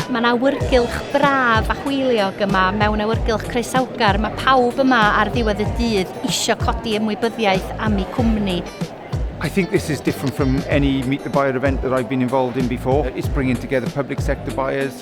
Mae'n awyrgylch braf a hwyliog yma mewn awyrgylch croesawgar. Mae pawb yma ar ddiwedd y dydd eisiau codi ymwybyddiaeth am eu cwmni. I think this is different from any Meet the Buyer event that I've been involved in before. It's bringing together public sector buyers,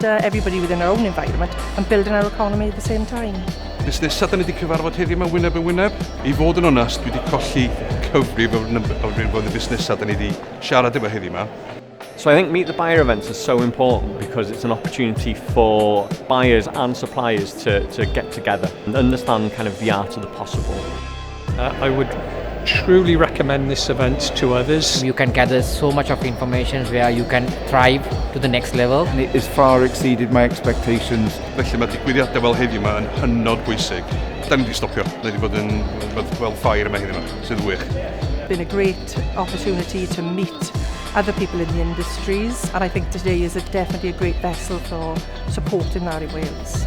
to everybody within our own environment and building our economy at the same time. Nes nesaf, da ni wedi cyfarfod heddiw yma wyneb yn wyneb. I fod yn onest, dwi wedi colli cyfrif o'r rhywbeth o'r busnesau da ni wedi siarad efo heddiw yma. So I think Meet the Buyer events are so important because it's an opportunity for buyers and suppliers to, to get together and understand kind of the art of the possible. Uh, I would truly recommend this event to others. You can gather so much of information where you can thrive to the next level. And it has far exceeded my expectations. Felly mae digwyddiadau fel heddiw yma yn hynod bwysig. Da ni wedi stopio, da ni wedi bod yn fel ffair yma heddiw yma, sydd wych. Been a great opportunity to meet other people in the industries and I think today is a, definitely a great vessel for supporting that in Wales.